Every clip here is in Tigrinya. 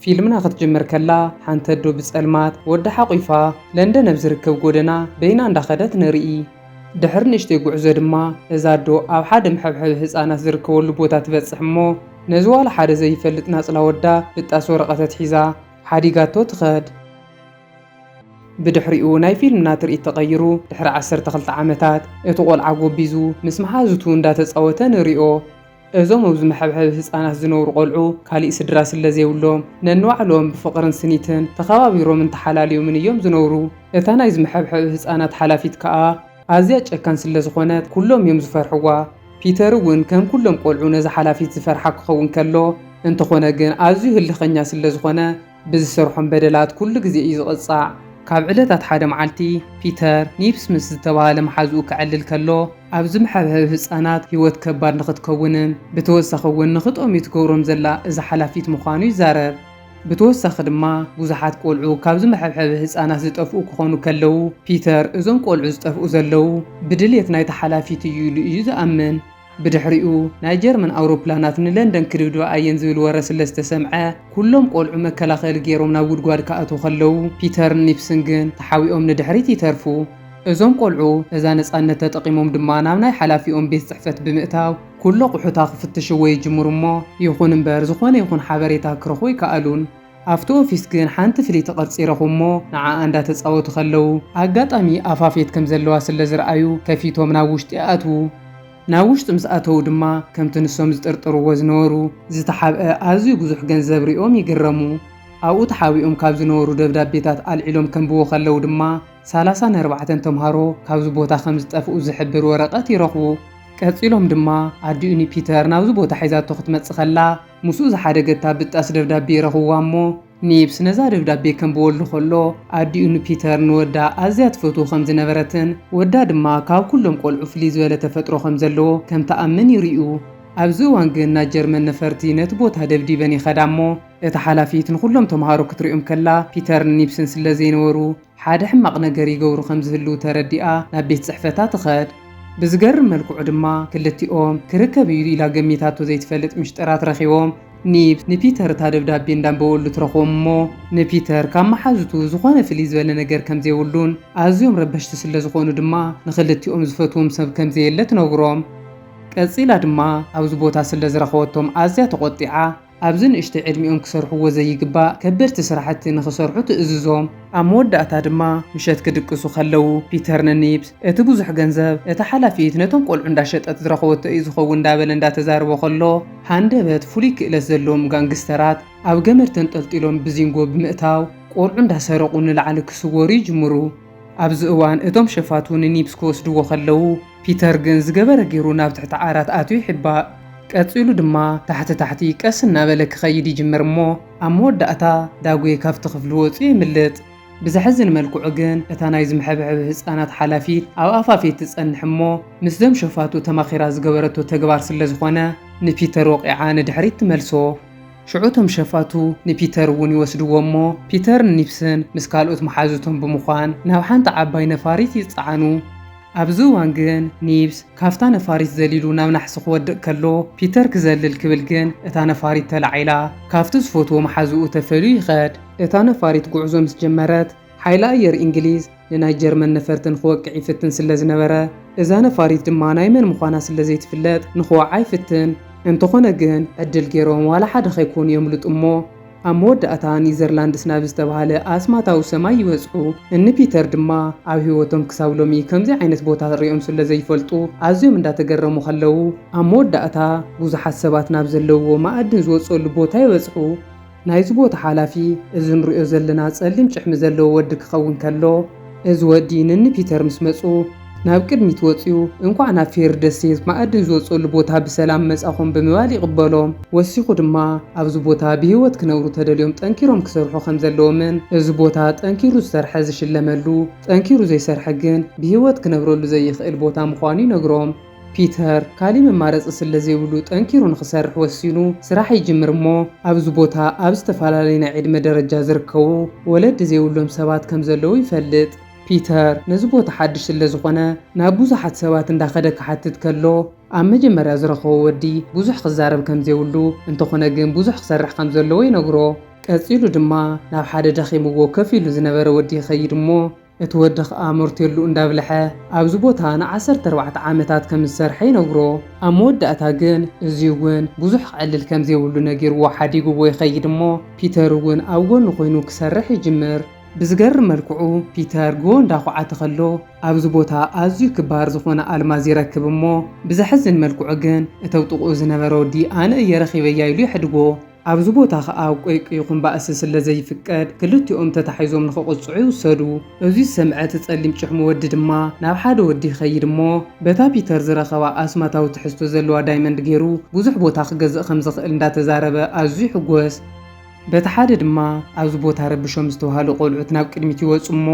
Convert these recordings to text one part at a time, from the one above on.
ፊልምና ክትጅምር ከላ ሓንቲ ኣዶ ብጸልማት ወዲ ሓቑፋ ለንደን ኣብ ዝርከብ ጎደና በይና እንዳኸደት ንርኢ። ድሕሪ ንእሽተይ ጉዕዞ ድማ እዛ ኣዶ ኣብ ሓደ መሐብሐቢ ህፃናት ዝርከበሉ ቦታ ትበጽሕ እሞ ነዚ ዋላ ሓደ ዘይፈልጥ ናጽላ ወዳ ብጣስ ወረቐት ኣትሒዛ ሓዲጋቶ ትኸድ። ብድሕሪኡ ናይ ፊልምና ትርኢት ተቐይሩ ድሕሪ ዓሰርተ ክልተ ዓመታት እቲ ቆልዓ ጎቢዙ ምስ መሓዙቱ እንዳተጻወተ ንሪኦ። እዞም ኣብዚ መሐብሐቢ ህጻናት ዝነብሩ ቆልዑ ካሊእ ስድራ ስለዘይብሎም ነንባዕሎም ብፍቕርን ስኒትን ተኸባቢሮምን ተሓላልዮምን እዮም ዝነብሩ። እታ ናይዚ መሐብሐቢ ህጻናት ሓላፊት ከኣ ኣዝያ ጨካን ስለዝኾነት ኩሎም እዮም ዝፈርሕዋ። ፒተር እውን ከም ኩሎም ቆልዑ ነዛ ሓላፊት ዝፈርሓ ክኸውን ከሎ እንተኾነ ግን ኣዝዩ ህልኸኛ ስለዝኾነ ብዝሰርሖም በደላት ኩሉ ግዜ እዩ ዝቕጻዕ። ካብ ዕለታት ሓደ መዓልቲ፣ ፒተር፣ ኒፕስ ምስ ዝተባህለ መሓዝኡ ከዕልል ከሎ፣ ኣብ ዝምሐብሐብ ህጻናት ህይወት ከባድ ንኽትከውንን ብተወሳኺ እውን ንኽጠምዩ ትገብሮም ዘላ እዛ ሓላፊት ምዃኑ ይዛረብ። ብተወሳኺ ድማ ብዙሓት ቆልዑ ካብ ዝመሐብሐቢ ህጻናት ዝጠፍኡ ክኾኑ ከለው፣ ፒተር እዞም ቆልዑ ዝጠፍኡ ዘለው ብድልየት ናይታ ሓላፊት እዩ ኢሉ እዩ ዝኣምን። ብድሕሪኡ ናይ ጀርመን ኣውሮፕላናት ንለንደን ክድብድባ ኣየን ዝብል ወረ ስለ ዝተሰምዐ፣ ኩሎም ቆልዑ መከላኸሊ ገይሮም ናብ ጉድጓድ ክኣትዉ ከለዉ፣ ፒተርን ኒፕስን ግን ተሓቢኦም ንድሕሪት ይተርፉ። እዞም ቆልዑ እዛ ነጻነት ተጠቒሞም ድማ ናብ ናይ ሓላፊኦም ቤት ጽሕፈት ብምእታው ኩሉ ኣቑሑታ ክፍትሽዎ ይጅምሩ እሞ ይኹን እምበር ዝኾነ ይኹን ሓበሬታ ክረኽቡ ኣይከኣሉን። ኣብቲ ኦፊስ ግን ሓንቲ ፍልይቲ ቅርጺ ረኹ እሞ ንዓኣ እንዳ ተጻወቱ ከለዉ ኣጋጣሚ ኣፋፌት ከም ዘለዋ ስለ ዝረኣዩ ከፊቶም ናብ ውሽጢ ኣኣትዉ። ናብ ውሽጢ ምስ ኣተዉ ድማ ከምቲ ንሶም ዝጥርጥርዎ ዝነበሩ ዝተሓብኣ ኣዝዩ ብዙሕ ገንዘብ ሪኦም ይግረሙ። ኣብኡ ተሓቢኦም ካብ ዝነበሩ ደብዳቤታት ኣልዒሎም ከንብቡ ከለዉ ድማ ሰላሳን ኣርባዕተን ተምሃሮ ካብዚ ቦታ ከም ዝጠፍኡ ዝሕብር ወረቀት ይረኽቡ። ቀጺሎም ድማ ኣዲኡኒ ፒተር ናብዚ ቦታ ሒዛቶ ክትመጽእ ከላ፣ ምስኡ ዝሓደገ እታ ብጣስ ደብዳቤ ረኽብዋ እሞ፣ ኒብስ ነዛ ደብዳቤ ከንብበሉ ከሎ፣ ኣዲኡ ንፒተር ንወዳ ኣዝያ ትፈትዎ ከም ዝነበረትን ወዳ ድማ ካብ ኩሎም ቆልዑ ፍልይ ዝበለ ተፈጥሮ ከም ዘለዎ ከም ትኣምን ይርእዩ። ኣብዚ እዋን ግን ናይ ጀርመን ነፈርቲ ነቲ ቦታ ደብዲበን ይኸዳ እሞ፣ እታ ሓላፊት ንኹሎም ተመሃሮ ክትሪኦም ከላ ፒተርን ኒብስን ስለ ዘይነበሩ፣ ሓደ ሕማቕ ነገር ይገብሩ ከም ዝህልዉ ተረዲኣ ናብ ቤት ጽሕፈታ ትኸድ። ብዝገርም መልክዑ ድማ ክልቲኦም ክርከብ እዩ ኢላ ገሚታቶ ዘይትፈልጥ ምሽጥራት ረኺቦም። ኒብ ንፒተር እታ ደብዳቤ እንዳንበበሉ ትረኽቦም እሞ ንፒተር ካብ መሓዙቱ ዝኾነ ፍልይ ዝበለ ነገር ከም ዘይብሉን ኣዝዮም ረበሽቲ ስለ ዝኾኑ ድማ ንኽልቲኦም ዝፈትዎም ሰብ ከም ዘየለ ትነግሮም። ቀጺላ ድማ ኣብዚ ቦታ ስለ ዝረኸበቶም ኣዝያ ተቖጢዓ። ኣብዚ ንእሽተይ ዕድሚኦም ክሰርሕዎ ዘይግባእ ከበድቲ ስራሕቲ ንኽሰርሑ ትእዝዞም። ኣብ መወዳእታ ድማ ምሸት ክድቅሱ ከለዉ፣ ፒተር ንኒብስ፣ እቲ ብዙሕ ገንዘብ እታ ሓላፊት ነቶም ቈልዑ እንዳሸጠት ዝረኸበቶ እዩ ዝኸውን እንዳበለ እንዳተዛረቦ ከሎ፣ ሃንደበት ፍሉይ ክእለት ዘለዎም ጋንግስተራት ኣብ ገመድ ተንጠልጢሎም ብዚንጎ ብምእታው ቈልዑ እንዳሰረቑ ንላዕሊ ክስወሩ ይጅምሩ። ኣብዚ እዋን እቶም ሸፋቱ ንኒብስ ክወስድዎ ከለዉ፣ ፒተር ግን ዝገበረ ገይሩ ናብ ትሕቲ ዓራት ኣትዩ ይሕባእ። ቀጺሉ ድማ ታሕቲ ታሕቲ ቀስ እናበለ ክኸይድ ይጅምር እሞ ኣብ መወዳእታ ዳጉየ ካብቲ ክፍሊ ወጺኡ የምልጥ። ብዘሕዝን መልክዑ ግን እታ ናይ ዝምሐብሕብ ህጻናት ሓላፊት ኣብ ኣፋፌት ትጸንሕ እሞ ምስዞም ሸፋቱ ተማኺራ ዝገበረቶ ተግባር ስለዝኾነ ንፒተር ወቒዓ ንድሕሪት ትመልሶ። ሽዑ እቶም ሸፋቱ ንፒተር እውን ይወስድዎ እሞ ፒተርን ኒፕስን ምስ ካልኦት መሓዙቶም ብምዃን ናብ ሓንቲ ዓባይ ነፋሪት ይጸዓኑ። ኣብዚ እዋን ግን ኒብስ ካብታ ነፋሪት ዘሊሉ ናብ ናሕሲ ክወድቕ ከሎ ፒተር ክዘልል ክብል ግን እታ ነፋሪት ተላዒላ ካብቲ ዝፈትዎ መሓዝኡ ተፈልዩ ይኸድ። እታ ነፋሪት ጉዕዞ ምስ ጀመረት ሓይሊ ኣየር እንግሊዝ ንናይ ጀርመን ነፈርቲ ንክወቅዕ ይፍትን ስለ ዝነበረ እዛ ነፋሪት ድማ ናይ መን ምዃና ስለ ዘይትፍለጥ ንክወዓ ይፍትን። እንተኾነ ግን ዕድል ገይሮም ዋላ ሓደ ከይኮኑ የምልጡ እሞ ኣብ መወዳእታ ኒዘርላንድስ ናብ ዝተባህለ ኣስማታዊ ሰማይ ይበጽሑ። እኒ ፒተር ድማ ኣብ ህይወቶም ክሳብ ሎሚ ከምዚ ዓይነት ቦታ ርእዮም ስለ ዘይፈልጡ ኣዝዮም እንዳተገረሙ ከለዉ፣ ኣብ መወዳእታ ብዙሓት ሰባት ናብ ዘለዉዎ ማእድን ዝወጽኦሉ ቦታ ይበጽሑ። ናይዚ ቦታ ሓላፊ እዚ ንርእዮ ዘለና ጸሊም ጭሕሚ ዘለዎ ወዲ ክኸውን ከሎ፣ እዚ ወዲ ንኒ ፒተር ምስ መጹ፣ ናብ ቅድሚት ወጺኡ እንኳዕ ናብ ፌሪ ደሴት ማኣድን ዝወጽእሉ ቦታ ብሰላም መጻኹም ብምባል ይቕበሎም። ወሲኹ ድማ ኣብዚ ቦታ ብህይወት ክነብሩ ተደልዮም ጠንኪሮም ክሰርሑ ከምዘለዎምን እዚ ቦታ ጠንኪሩ ዝሰርሐ ዝሽለመሉ ጠንኪሩ ዘይሰርሐ ግን ብህይወት ክነብረሉ ዘይኽእል ቦታ ምዃኑ ይነግሮም። ፒተር ካሊእ መማረጺ ስለዘይብሉ ጠንኪሩ ንኽሰርሕ ወሲኑ ስራሕ ይጅምር እሞ ኣብዚ ቦታ ኣብ ዝተፈላለዩ ናይ ዕድመ ደረጃ ዝርከቡ ወለዲ ዘይብሎም ሰባት ከምዘለዉ ይፈልጥ። ፒተር ነዚ ቦታ ሓድሽ ስለ ዝኾነ ናብ ብዙሓት ሰባት እንዳኸደ ክሓትት ከሎ ኣብ መጀመርያ ዝረኸቦ ወዲ ብዙሕ ክዛረብ ከም ዘይብሉ እንተኾነ ግን ብዙሕ ክሰርሕ ከም ዘለዎ ይነግሮ። ቀጺሉ ድማ ናብ ሓደ ደኺምዎ ከፍ ኢሉ ዝነበረ ወዲ ይኸይድ እሞ እቲ ወዲ ኸኣ መርቴሉ እንዳብልሐ ኣብዚ ቦታ ን ዓሰርተ ኣርባዕተ ዓመታት ከም ዝሰርሐ ይነግሮ። ኣብ መወዳእታ ግን እዚ እውን ብዙሕ ክዕልል ከም ዘይብሉ ነጊርዎ ሓዲግዎ ይኸይድ እሞ ፒተር እውን ኣብ ጎኑ ኮይኑ ክሰርሕ ይጅምር። ብዝገርም መልክዑ ፒተር ጉቦ እንዳኹዓተ ከሎ ኣብዚ ቦታ ኣዝዩ ክባር ዝኾነ ኣልማዝ ይረክብ እሞ ብዘሕዝን መልክዑ ግን እተብ ጥቕኡ ዝነበረ ወዲ ኣነ እየ ረኺበያ ኢሉ የሕድጎ። ኣብዚ ቦታ ከኣ ቆይቂ ይኹን ባእሲ ስለዘይፍቀድ ክልቲኦም ተታሒዞም ንኽቕጽዑ ይውሰዱ። እዙይ ዝሰምዐ እቲ ጸሊም ጭሕሙ ወዲ ድማ ናብ ሓደ ወዲ ይኸይድ እሞ በታ ፒተር ዝረኸባ ኣስማታዊ ትሕዝቶ ዘለዋ ዳይመንድ ገይሩ ብዙሕ ቦታ ክገዝእ ከምዝኽእል እንዳተዛረበ ኣዝዩ ይሕጎስ። በቲ ሓደ ድማ ኣብዚ ቦታ ረብሾም ዝተባሃሉ ቆልዑት ናብ ቅድሚት ይወጹ እሞ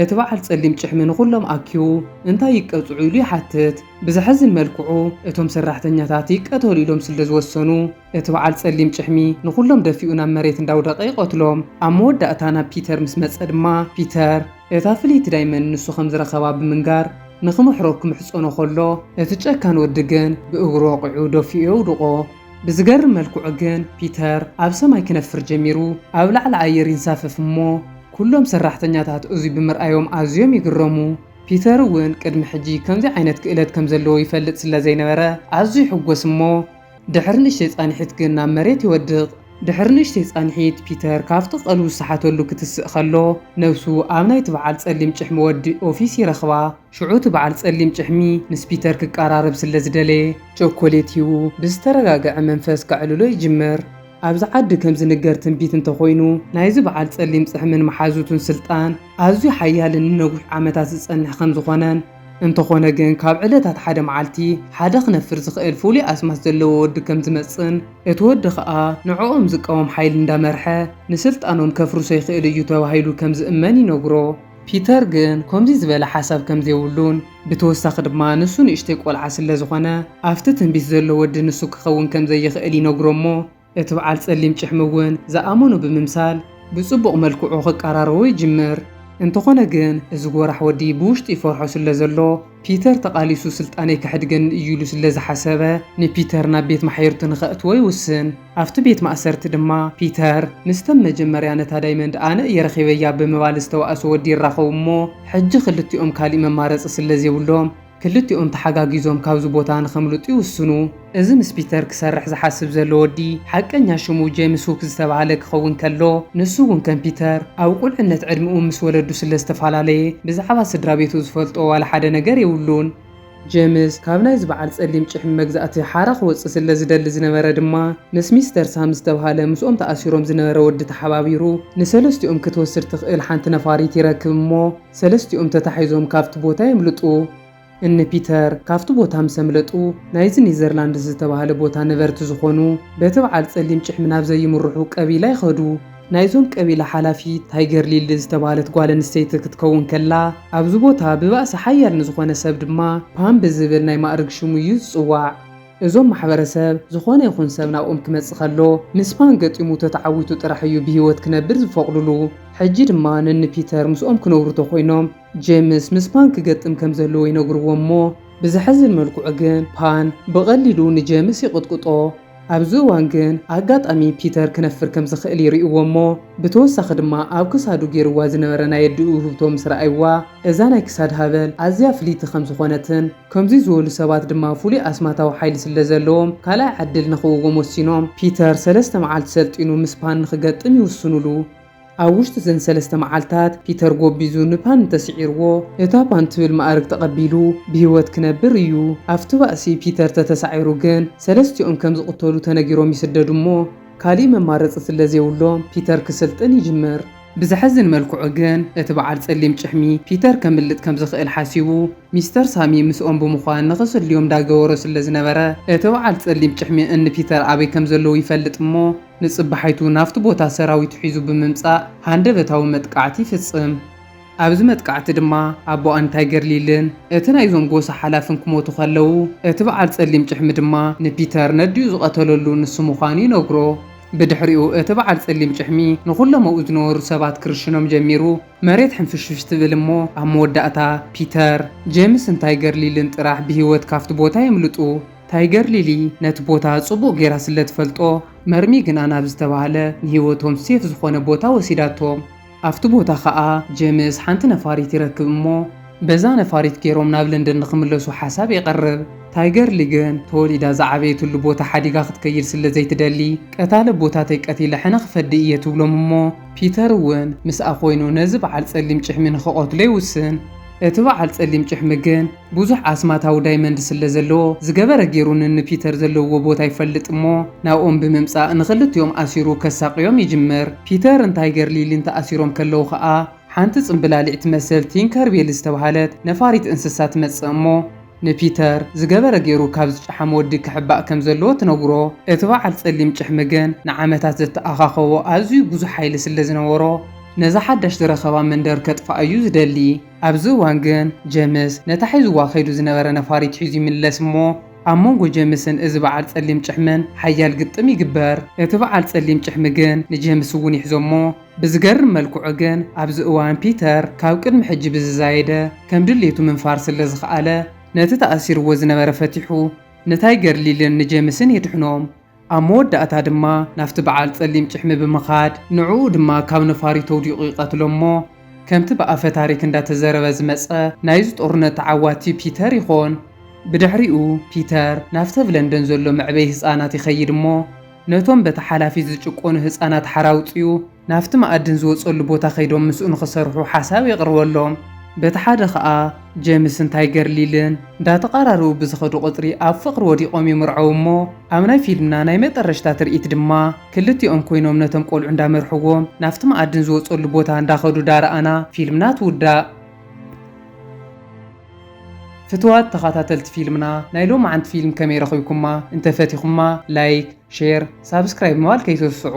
እቲ በዓል ጸሊም ጭሕሚ ንኹሎም ኣኪቡ እንታይ ይቀጽዑ ኢሉ ይሓትት። ብዘሕዝን መልክዑ እቶም ሰራሕተኛታት ይቀተሉ ኢሎም ስለ ዝወሰኑ እቲ በዓል ጸሊም ጭሕሚ ንኹሎም ደፊኡ ናብ መሬት እንዳውደቐ ይቐትሎም። ኣብ መወዳእታ ናብ ፒተር ምስ መጸ ድማ ፒተር እታ ፍልይቲ ዳይመንድ ንሱ ከም ዝረኸባ ብምንጋር ንክምሕሮ ክምሕጸኖ ከሎ እቲ ጨካን ወዲ ግን ብእግሩ ወቒዑ ደፊኡ የውድቖ። ብዝገርም መልክዑ ግን ፒተር ኣብ ሰማይ ክነፍር ጀሚሩ ኣብ ላዕሊ ኣየር ይንሳፈፍ እሞ ኩሎም ሰራሕተኛታት እዙይ ብምርኣዮም ኣዝዮም ይግረሙ። ፒተር እውን ቅድሚ ሕጂ ከምዚ ዓይነት ክእለት ከም ዘለዎ ይፈልጥ ስለ ዘይነበረ ኣዝዩ ይሕጎስ እሞ ድሕሪ ንእሽተይ ጻንሒት ግን ናብ መሬት ይወድቕ። ድሕሪ ንእሽተይ ጻንሒት ፒተር ካብቲ ቀልቡ ዝሰሓተሉ ክትስእ ከሎ ነብሱ ኣብ ናይቲ በዓል ጸሊም ጭሕሚ ወዲ ኦፊስ ይረኽባ። ሽዑ እቲ በዓል ጸሊም ጭሕሚ ምስ ፒተር ክቀራረብ ስለ ዝደለየ፣ ቸኮሌት ሂቡ ብዝተረጋግዐ መንፈስ ከዕልሎ ይጅምር። ኣብዚ ዓዲ ከም ዝንገር ትንቢት እንተ ኾይኑ፣ ናይዚ በዓል ጸሊም ጽሕምን መሓዙቱን ስልጣን ኣዝዩ ሓያልን ንነዊሕ ዓመታት ዝጸንሕ ከም ዝኾነን፣ እንተኾነ ግን ካብ ዕለታት ሓደ መዓልቲ ሓደ ክነፍር ዝኽእል ፍሉይ ኣስማት ዘለዎ ወዲ ከም ዝመጽእን፣ እቲ ወዲ ከኣ ንዕኦም ዝቃወም ሓይሊ እንዳመርሐ ንስልጣኖም ከፍርሶ ይኽእል እዩ ተባሂሉ ከም ዝእመን ይነግሮ። ፒተር ግን ኮምዚ ዝበለ ሓሳብ ከምዘይብሉን ብተወሳኺ ድማ ንሱ ንእሽተይ ቆልዓ ስለዝኾነ ኣፍቲ ትንቢት ዘሎ ወዲ ንሱ ክኸውን ከምዘይኽእል ይነግሮ እሞ እቲ በዓል ፀሊም ጭሕሚ እውን ዝኣመኖ ብምምሳል ብፅቡቕ መልክዑ ክቀራረቦ ይጅምር። እንተኾነ ግን እዚ ጎራሕ ወዲ ብውሽጡ ይፈርሖ ስለዘሎ፣ ፒተር ተቓሊሱ ስልጣነይ ከሕድገኒ እዩ ኢሉ ስለ ዝሓሰበ፣ ንፒተር ናብ ቤት ማሕየርቱ ንኸእትዎ ይውስን። ኣብቲ ቤት ማእሰርቲ ድማ፣ ፒተር ምስተም መጀመርያ ነታ ዳይመንድ ኣነ እየ ረኺበያ ብምባል ዝተዋእሶ ወዲ ይራኸቡ እሞ፣ ሕጂ ክልቲኦም ካሊእ መማረጺ ስለ ዘይብሎም፣ ክልቲኦም ተሓጋጊዞም ካብዚ ቦታ ንኸምልጡ ይውስኑ። እዚ ምስ ፒተር ክሰርሕ ዝሓስብ ዘሎ ወዲ፣ ሓቀኛ ሽሙ ጀምስ ሁክ ዝተባህለ ክኸውን ከሎ፣ ንሱ እውን ከም ፒተር፣ ኣብ ቁልዕነት ዕድመኡ ምስ ወለዱ ስለ ዝተፋላለየ፣ ብዛዕባ ስድራቤቱ ዝፈልጦ ዋላ ሓደ ነገር የብሉን። ጀምስ፣ ካብ ናይዚ በዓል ጸሊም ጭሕሚ መግዛእቲ ሓራ ክወጽእ ስለ ዝደሊ ዝነበረ ድማ፣ ምስ ሚስተር ሳም ዝተባህለ ምስኦም ተኣሲሮም ዝነበረ ወዲ ተሓባቢሩ፣ ንሰለስቲኦም ክትወስድ ትኽእል ሓንቲ ነፋሪት ይረክብ እሞ፣ ሰለስቲኦም ተታሒዞም ካብቲ ቦታ የምልጡ። እኒ ፒተር ካብቲ ቦታ ምስ ኣምለጡ፣ ናይዚ ኔዘርላንድስ ዝተባህለ ቦታ ነበርቲ ዝኾኑ፣ በቲ በዓል ጸሊም ጭሕሚ ናብ ዘይምርሑ ቀቢላ ይኸዱ። ናይዞም ቀቢላ ሓላፊት ታይገር ሊሊ ዝተባህለት ጓል ኣንስተይቲ ክትከውን ከላ፣ ኣብዚ ቦታ ብባእሲ ሓያል ንዝኾነ ሰብ ድማ ፓም ብዝብል ናይ ማእርግ ሽሙ እዩ ዝጽዋዕ። እዞም ማሕበረሰብ፣ ዝኾነ ይኹን ሰብ ናብኦም ክመጽእ ከሎ፣ ምስ ፓን ገጢሙ ተተዓዊቱ ጥራሕ እዩ ብህይወት ክነብር ዝፈቕዱሉ። ሕጂ ድማ ንኒ ፒተር ምስኦም ክነብሩ ተኾይኖም፣ ጄምስ ምስ ፓን ክገጥም ከም ዘለዎ ይነግርዎ እሞ ብዘሕዝን መልክዑ ግን ፓን ብቐሊሉ ንጄምስ ይቕጥቅጦ። ኣብዚ እዋን ግን ኣጋጣሚ ፒተር ክነፍር ከም ዝኽእል ይርእዎ እሞ ብተወሳኺ ድማ ኣብ ክሳዱ ጌርዋ ዝነበረ ናይ ኣዲኡ ውህብቶ ምስ ረኣይዋ እዛ ናይ ክሳድ ሃበል ኣዝያ ፍልይቲ ከም ዝኾነትን ከምዙይ ዝበሉ ሰባት ድማ ፍሉይ ኣስማታዊ ሓይሊ ስለ ዘለዎም ካልኣይ ዓድል ንኽውዎም ወሲኖም ፒተር ሰለስተ መዓልቲ ሰልጢኑ ምስ ፓን ንኽገጥም ይውስኑሉ። ኣብ ውሽጢ እዘን ሰለስተ መዓልታት ፒተር ጎቢዙ ንፓን እንተስዒርዎ እታ ፓን ትብል መኣርግ ተቐቢሉ ብህይወት ክነብር እዩ። ኣብቲ ባእሲ ፒተር ተተሳዒሩ ግን ሰለስቲኦም ከም ዝቕተሉ ተነጊሮም ይስደዱ እሞ ካሊእ መማረፂ ስለዘይብሎም ፒተር ክስልጥን ይጅምር። ብዘሕዝን መልክዑ ግን እቲ በዓል ፀሊም ጭሕሚ ፒተር ከምልጥ ከም ዝኽእል ሓሲቡ ሚስተር ሳሚ ምስኦም ብምዃን ንኽስልዮም እንዳገበሮ ስለዝነበረ እቲ በዓል ፀሊም ጭሕሚ እኒ ፒተር ኣበይ ከም ዘለዉ ይፈልጥ እሞ ንጽባሒቱ ናብቲ ቦታ ሰራዊቱ ሒዙ ብምምጻእ ሃንደበታዊ መጥቃዕቲ ይፍጽም። ኣብዚ መጥቃዕቲ ድማ ኣቦኣ ንታይ ገርሊልን እቲ ናይዞም ጎሳ ሓላፍን ክሞቱ ከለዉ፣ እቲ በዓል ጸሊም ጭሕሚ ድማ ንፒተር ነዲኡ ዝቐተለሉ ንሱ ምዃኑ ይነግሮ። ብድሕሪኡ እቲ በዓል ጸሊም ጭሕሚ ንኹሎም ኣብኡ ዝነበሩ ሰባት ክርሽኖም ጀሚሩ። መሬት ሕንፍሽፍሽ ትብል እሞ ኣብ መወዳእታ ፒተር፣ ጄምስን ንታይ ገርሊልን ጥራሕ ብህይወት ካብቲ ቦታ የምልጡ። ታይገር ሊሊ ነቲ ቦታ ጽቡቕ ጌራ ስለ ትፈልጦ፣ መርሚ ግና ናብ ዝተባህለ ንህይወቶም ሴፍ ዝኾነ ቦታ ወሲዳቶም። ኣብቲ ቦታ ከኣ ጀምስ ሓንቲ ነፋሪት ይረክብ እሞ በዛ ነፋሪት ጌሮም ናብ ለንደን ንኽምለሱ ሓሳብ የቕርብ። ታይገር ሊ ግን ተወሊዳ ዝዓበየትሉ ቦታ ሓዲጋ ክትከይድ ስለ ዘይትደሊ፣ ቀታሊ ኣቦታተይ ቀቲለ ሕነ ክፈዲ እየ ትብሎም እሞ ፒተር እውን ምስኣ ኮይኑ ነዚ በዓል ጸሊም ጭሕሚ ንኽቐትሎ ይውስን። እቲ በዓል ጸሊም ጭሕሚ ግን። ብዙሕ ኣስማታዊ ዳይመንድ ስለ ዘለዎ ዝገበረ ጌሩ ንን ፒተር ዘለውዎ ቦታ ይፈልጥ እሞ ናብኦም ብምምጻእ ንኽልቲኦም ኣሲሩ ከሳቕዮም ይጅምር። ፒተር ን ታይገር ሊሊን ተኣሲሮም ከለዉ ከኣ ሓንቲ ጽምብላሊዕ ትመስል ቲንከር ቤል ዝተባህለት ነፋሪት እንስሳ ትመጽእ እሞ ንፒተር ዝገበረ ጌሩ ካብ ዝጨሓመ ወዲ ክሕባእ ከም ዘለዎ ትነግሮ። እቲ በዓል ጸሊም ጭሕሚ ግን ንዓመታት ዘተኣኻኸቦ ኣዝዩ ብዙሕ ሓይሊ ስለ ዝነበሮ ነዛ ሓዳሽ ዝረኸባ መንደር ከጥፍኣ'ዩ ዝደሊ። ኣብዚ እዋን ግን ጀምስ ነታ ሒዙዋ ከይዱ ዝነበረ ነፋሪት ሒዙ ይምለስ እሞ ኣብ መንጎ ጀምስን እዚ በዓል ጸሊም ጭሕምን ሓያል ግጥም ይግበር። እቲ በዓል ጸሊም ጭሕሚ ግን ንጀምስ እውን ይሕዞ እሞ ብዝገርም መልክዑ ግን ኣብዚ እዋን ፒተር ካብ ቅድሚ ሕጂ ብዝዛየደ ከም ድሌቱ ምንፋር ስለ ዝኸኣለ ነቲ ተኣሲሩዎ ዝነበረ ፈቲሑ ንታይገር ሊልን ንጀምስን የድሕኖም። ኣብ መወዳእታ ድማ ናብቲ በዓል ጸሊም ጭሕሚ ብምኻድ ንዕኡ ድማ ካብ ነፋሪቱ ኣውዲቑ ይቐትሎ'ሞ ከምቲ ብኣፈ ታሪክ እንዳተዘረበ ዝመጸ ናይዚ ጦርነት ተዓዋቲ ፒተር ይኾን። ብድሕሪኡ ፒተር ናብቲ ኣብ ለንደን ዘሎ መዕበዪ ህጻናት ይኸይድ'ሞ ነቶም በታ ሓላፊት ዝጭቆኑ ህጻናት ሓራ ኣውጺኡ ናብቲ መኣድን ዝወጸሉ ቦታ ከይዶም ምስኡ ንኽሰርሑ ሓሳብ የቕርበሎም። በቲ ሓደ ከኣ ጀምስን ታይገር ሊልን እንዳተቓራረቡ ብዝኸዱ ቁጽሪ ኣብ ፍቕሪ ወዲቖም ይምርዐዉ እሞ ኣብ ናይ ፊልምና ናይ መጠረሽታ ትርኢት ድማ ክልቲኦም ኮይኖም ነቶም ቆልዑ እንዳመርሕዎም ናብቲ መኣድን ዝወጸሉ ቦታ እንዳኸዱ ዳረኣና ፊልምና ትውዳእ። ፍትዋት ተኻታተልቲ ፊልምና ናይ ሎማዓንቲ ፊልም ከመይ ረኺብኩማ እንተ ፈቲኹማ ላይክ ሼር ሳብስክራይብ ምባል ከይትርስዑ።